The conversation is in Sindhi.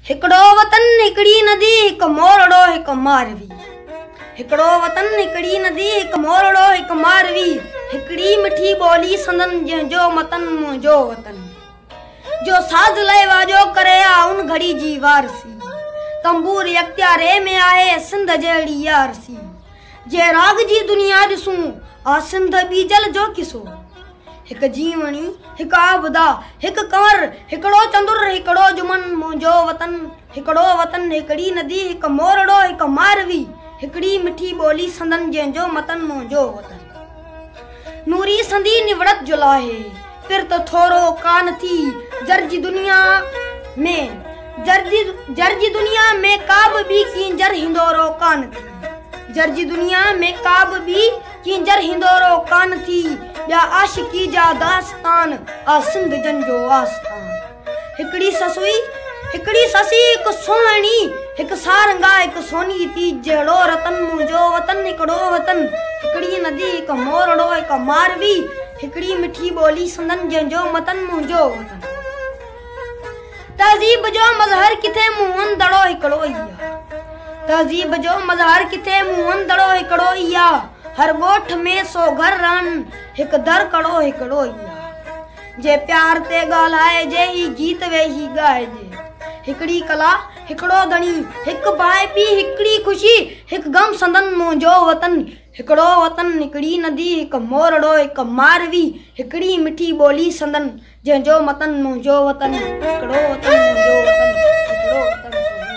هڪڙو وطن هڪڙي ندي هڪ مورڙو هڪ ماروي هڪڙو وطن هڪڙي ندي هڪ مورڙو هڪ ماروي هڪڙي مٺي ٻولي سندن جنهن جو متن منهنجو وطن جو ساز لئي واجو ڪري آ ان گھڙي جي وارثي تنبور اختياري ۾ آهي سنڌ جهڙي يارثي جي راڳ جي دنيا ڏسون، عاصم د ٻيجل جو قصو. هڪ جيوڻي، هڪ عابده، هڪ ڪنور، هڪڙو چندر، هڪڙو جمن، منهنجو وطن، هڪڙو وطن، هڪڙي ندي، هڪ مورڙو، هڪ ماروي، هڪڙي مٺي ٻولي سندن جنهن جو متن منهنجو وطن. نوري سندي نوڙت جو لاهي پر ته ٿورو ڪانه ٿي جر جي دنيا ۾ جر جي دنيا ۾ ڪا به ٻي ڪينجر هندورو ڪانه ٿي جر جي دنيا ۾ ڪا به ٻي ڪينجر هندورو ڪانه ٿي ٻيا عاشقي جا داستان آ سنڌ جن جو آستان. هڪڙي سس هئي، هڪڙي سس هئي هڪ سهڻي، هڪ سارنگا، هڪ سوني جي تيج جهڙو رتن، منهنجو وطن هڪڙو وطن، هڪڙي ندي، هڪ مورڙو، هڪ ماروي، هڪڙي مٺي ٻولي سندن جنهن جو متن، منهنجو وطن. تهذيب جو مظهر ڪٿي موهن دڙو هڪڙو ئي آ. تهذيب جو مظهر ڪٿي موهن دڙو هڪڙو ئي آ. هر ڳوٺ ۾ سو گهر رهن هڪ در ڪڙو هڪڙو ئي آ. جي پيار تي ڳالهائجي هي گيت ويهي ڳائجي هڪڙي ڪلا هڪڙو ڌڻي هڪ ڀائي پي هڪڙي خوشي هڪ غم سندن منهنجو وطن هڪڙو وطن هڪڙي ندي هڪ مورڙو هڪ ماروي هڪڙي مٺي ٻولي سندن جنهن جو متن منهنجو وطن هڪڙو وطن منهنجو وطن هڪڙو وطن سونهن.